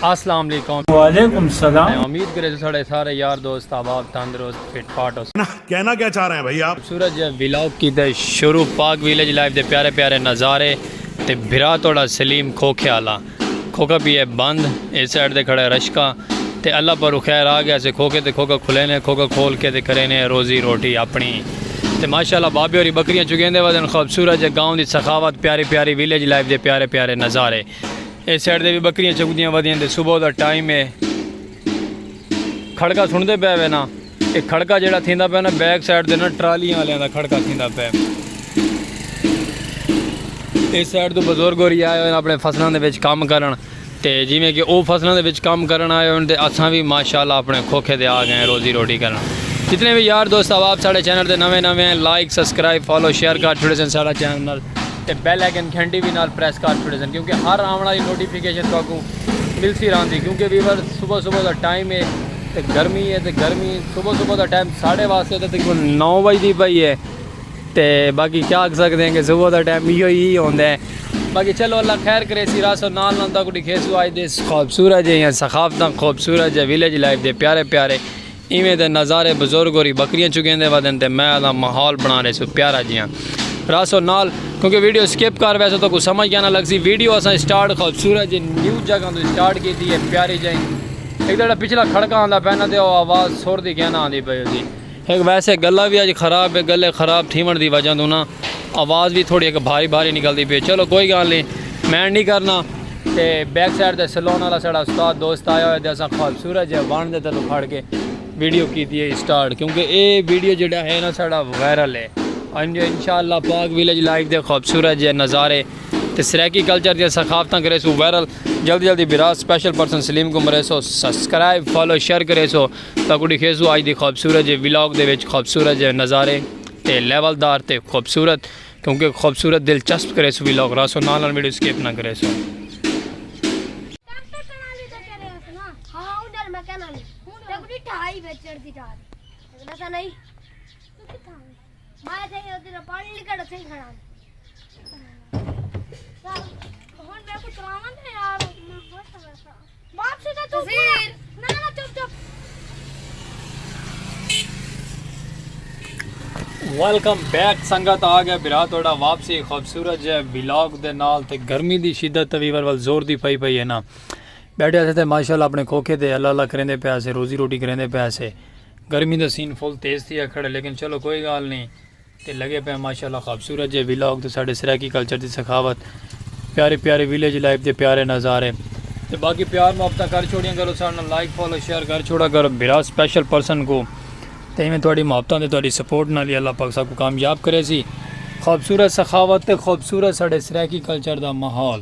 السلام علیکم وعلیکم السلام میں امید کرے تو سارے سارے یار دوست آباد تندرست فٹ پاٹ ہو کہنا کیا چاہ رہے ہیں بھائی آپ سورج ویلاگ کی تے شروع پاک ویلیج لائف دے پیارے پیارے نظارے تے بھرا توڑا سلیم کھوکھے آلا کھوکھا پی ہے بند اے سائیڈ تے کھڑا ہے رشکا تے اللہ پرو خیر آ گیا سے کھوکھے تے کھوکھا کھلے نے کھوکھا کھول کے تے کرے نے روزی روٹی اپنی تے ماشاءاللہ بابے ہوری بکریاں چگیندے ودن خوبصورت جے گاؤں دی سخاوت پیاری پیاری ویلیج لائف دے پیارے پیارے نظارے اے سائیڈ تے بھی بکریاں چگدیاں ودیاں تے صبح دا ٹائم ہے کھڑکا سندے پے وے نا اے کھڑکا جیڑا تھیندا پیا نا بیک سائیڈ دے نا ٹرالیاں والیاں دا کھڑکا تھیندا پیا اس سائیڈ تو بزرگ ہو رہی آئے ہوئے اپنے فصلاں دے وچ کام کرن تے جویں کہ او فصلاں دے وچ کام کرن آئے ہوئے تے اساں وی ماشاءاللہ اپنے کھوکھے دے آ گئے روزی روٹی کرن جتنے بھی یار دوست احباب ساڈے چینل تے نویں نویں ہیں لائک سبسکرائب فالو شیئر کر چھوڑے سن ساڈا چینل نال تے بیل آئیکن گھنٹی وی نال پریس کر چھوڑے سن کیونکہ ہر آون والی نوٹیفیکیشن تہاکوں ملتی رہندی کیونکہ ویور صبح صبح دا ٹائم ہے تے گرمی ہے تے گرمی صبح صبح دا ٹائم ساڑھے واسطے تے تقریبا نو بج دی پئی ہے تے باقی کیا آکھ سکدے ہیں کہ صبح دا ٹائم ایہو ہی ہوندا ہے باقی چلو اللہ خیر کرے سی راسو نال نال تاکو ڈکھے سو آج دے خوبصورت جے ہیں ثقافتاں خوبصورت جے ویلیج لائف دے پیارے پیارے ایویں دے نظارے بزرگ ہوری بکریاں چگیں دے ودن تے میں دا ماحول بنا رہے سو پیارا جے ہیں راسو نال کیونکہ ویڈیو سکپ کر ویسو تو کو سمجھ گیا نہ لگ سی ویڈیو اساں سٹارٹ خوبصورت جے نیو جگہ تو سٹارٹ کی تھی ہے پیاری جائیں ہک تیݙا پچھلا کھڑکا آندا پئے نا تے او آواز سر دی کیاں نہ آندی پئی ہوسی۔ ہک ویسے گلا وی اڄ خراب اے گلے خراب تھیوݨ دی وجہ توں نا آواز وی تھوڑی ہک بھاری بھاری نکلدی پئی اے چلو کوئی گالھ نی مینڈ نی کرنا۔ تے بیک سائیڈ تے سلون آلا ساݙا استاد دوست آیا ہویا تے اساں خوبصورت جئے وݨ دے تلوں کھڑ کے ویڈیو کیتی اے اسٹارٹ کیونکہ اے ویڈیو جیڑھا ہے نا ساݙا وائرل اے۔ انشاء اللہ پاک ولیج لائف دے خوبصورت جئے نظارے تے سرائیکی کلچر دیاں ثقافتاں کریسوں وائرل جلدی جلدی بھرا سپیشل پرسن سلیم کوں مریسو سبسکرائب فالو شیئر کریسو تاکوں ڈکھیسوں اج دی خوبصورت جے ولاگ دے وچ خوبصورت جے نظارے تے لیول دار تے خوبصورت کیونکہ خوبصورت دلچسپ کریسوں ولاگ رہسو نال نال ویڈیو سکپ نہ کریسو۔ ماں تھے یہ دل پانی لکڑ تھے ہی کھڑا ہون میں کو تراون تھے یار ماں بہت سبا سا باپ سے تو چپ نا نا چپ چپ ویلکم بیک سنگت آ گیا برا توڑا واپسی خوبصورت جے ویلاگ دے نال تے گرمی دی شدت تے ویور ول زور دی پئی پئی ہے نا بیٹھے تھے تے ماشاءاللہ اپنے کھوکھے دے اللہ اللہ کریندے پیا سے روزی روٹی کریندے پیا سے گرمی دا سین فل تیز تھیا کھڑے لیکن چلو کوئی گال نہیں تے لگے پہ ماشاءاللہ خوبصورت جے ویلاگ تے ساڈے سرائیکی کلچر دی سخاوت پیارے پیارے ویلیج لائف دے پیارے نظارے تے باقی پیار محبتاں کر چھوڑیاں کرو ساڈے لائک فالو شیئر کر چھوڑا کرو بھرا سپیشل پرسن کو تے ایویں تہاڈی محبتاں تے تہاڈی سپورٹ نال ہی اللہ پاک ساکو کامیاب کرے سی خوبصورت سخاوت تے خوبصورت ساڈے سرائیکی کلچر دا ماحول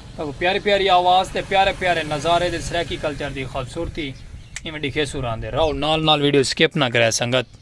تاکوں پیاری پیاری آواز تے پیارے پیارے نظارے دے سرائیکی کلچر دی خوبصورتی ایویں ڈکھیسوں راندے راؤ نال نال ویڈیو سکپ نہ کرے سنگت۔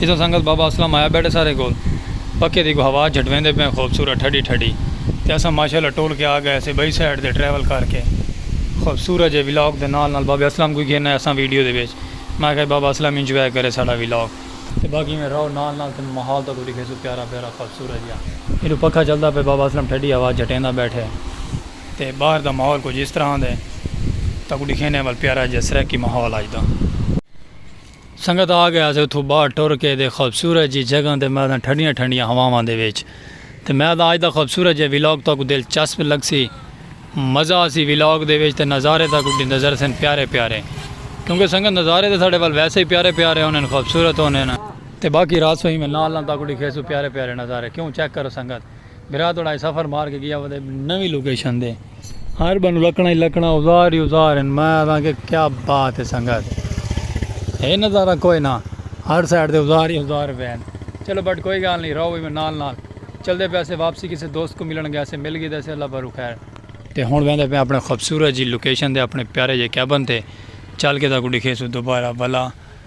ایساں سنگت بابا اسلم آیا بیٹھے سارے کول۔ پکھے دی کو ہوا جھٹویندے پئے خوبصورت ٹھڈی ٹھڈی تے اساں ماشاءاللہ ٹول کے آ گئے سے بئی سائیڈ تے ٹریول کر کے خوبصورت جے ولاگ دے نال نال بابے اسلم کوں گھن آئے اساں ویڈیو دے وچ میں آکھیا بابا اسلم انجوائے کرے ساڈا ولاگ۔ تے باقی ایویں رہو نال نال تے میں ماحول تہاکوں ڈکھیسوں پیارا پیارا خوبصورت جیا۔ ایڈو پکھا چلدا پئے بابا اسلم ٹھڈی ہوا جھٹیندا بیٹھے تے باہر دا ماحول کچھ اس طرح دے تہاکوں ڈکھینے ول پیارا جیا سرائیکی ماحول اج دا۔ سنگت آ گئے آسے اتھوں باہر ٹر کے دے خوبصورت جی جگہ تے میداں ٹھڈیاں ٹھنڈیاں ہواواں دے وچ تے میداں اج دا خوبصورت جے ولاگ تہاکوں دلچسپ لگسی مزہ آسی ولاگ دے وچ تے نظارے تہاکوں ڈی نظر سن پیارے پیارے کیونکہ سنگت نظارے تے ساڈے ول ویسے ہی پیارے پیارے ہوندے ہن خوبصورت ہوندے ہن تے باقی رات سوں ہی میں نال نال تہاکوں ڈکھیسوں پیارے پیارے نظارے کیوں چیک کرو سنگت۔ بھرا توڑا اے سفر مار کے گیا ودے نوی لوکیشن دے ہر بنو لکنا ہی لکنا اوزار ہی اوزار ہیں میں آدھاں کہ کیا بات ہے سنگت ہے نظارہ کوئی نہ ہر سائڈ دے اوزار ہی اوزار بین چلو بٹ کوئی گال نہیں رہو میں نال نال چل دے پیسے واپسی کسی دوست کو ملن گیا سے مل گئی دے سے اللہ بھرو خیر تے ہون بین دے پہ اپنے خوبصورت جی لوکیشن دے اپنے پیارے جی کیبن تے چل کے دا کو ڈکھے سو دوبارہ بلا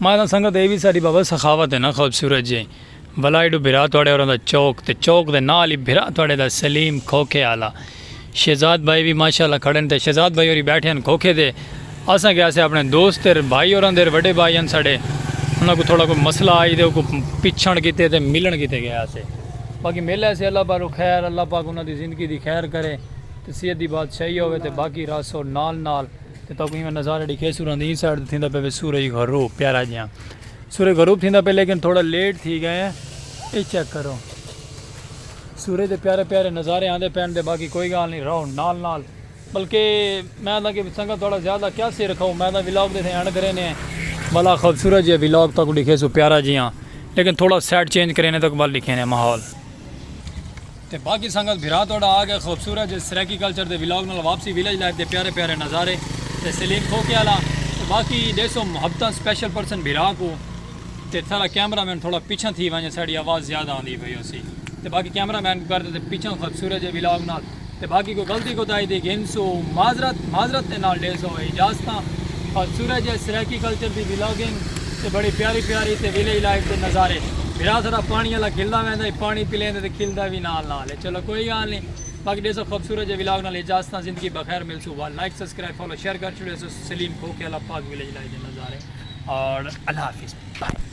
ماتا سنگت اے وی ساڈی بابا سخاوت اے نا خوبصورت جے بھلا ایڈو بھرا تہاڈے ہوراں دا چوک تے چوک دے نال ای بھرا تہاڈے دا سلیم کھوکھے آلا شہزاد بھائی وی ماشاءاللہ کھڑن تے شہزاد بھائی ہوری بیٹھے ہن کھوکھے تے اساں کے آسے اپنے دوست تے بھائی ہوراں دے وڈے بھائی ہن ساڈے انہاں کوں تھوڑا کوئی مسئلہ آئی تے اوکوں پچھن کیتے تے ملن کیتے گئے آسے باقی مل ایسے اللہ پاروں خیر اللہ پاک انہاں دی زندگی دی خیر کرے تے صحت دی بادشاہی ہووے تے باقی راسو نال نال تے تہاکوں ایویں نظارہ ڈیکھے سوراں دی ایں سائیڈ تے تھیندا پئے وے سورج غروب پیارا جیہاں سورج غروب تھیندا پئے لیکن تھوڑا لیٹ تھی گئے ہیں اے چیک کرو سورج دے پیارے پیارے نظارے آندے پین دے باقی کوئی گال نہیں رہو نال نال بلکہ میں دا کہ سنگت تھوڑا زیادہ کیا سے رکھو میں دا ولاگ دے تھے اینڈ کرے نے بلا خوبصورت جے ولاگ تاکوں ڈیکھے سو پیارا جیہاں لیکن تھوڑا سیٹ چینج کرے نے تک بل ڈیکھے نے ماحول تے باقی سنگت بھرا تہاڈا آ گئے خوبصورت جے سرائیکی کلچر دے ولاگ نال واپسی ویلیج لائف دے پیارے پیارے نظارے تے سلیم کھوکھے آلا تے باقی ڈیسو محبتاں سپیشل پرسن بھرا کو تے ساڈا کیمرہ مین تھوڑا پچھاں تھی ونجے ساڈی آواز زیادہ آندی پئی ہوسی تے باقی کیمرہ مین کو کر تے پچھاں خوبصورت جے ولاگ نال تے باقی کوئی غلطی کوتاہی دی گھنسو معذرت معذرت دے نال ڈیسو اجازتاں خوبصورت جے سرائیکی کلچر دی ولاگنگ تے بڑی پیاری پیاری تے ویلیج لائف دے نظارے بھرا سارا پانی آلا کھلدا ویندا ہے پانی پلیندے تے کھلدا وی نال نال ہے چلو کوئی گال نی باقی ڈیسو خوبصورت جے ولاگ نال اجازتاں زندگی بخیر ملسوں ول لائک سبسکرائب فالو شیئر کر چھوڑیسو سلیم کھوکھے آلا پاک ویلیج لائف دے نظارے اور اللہ حافظ بائے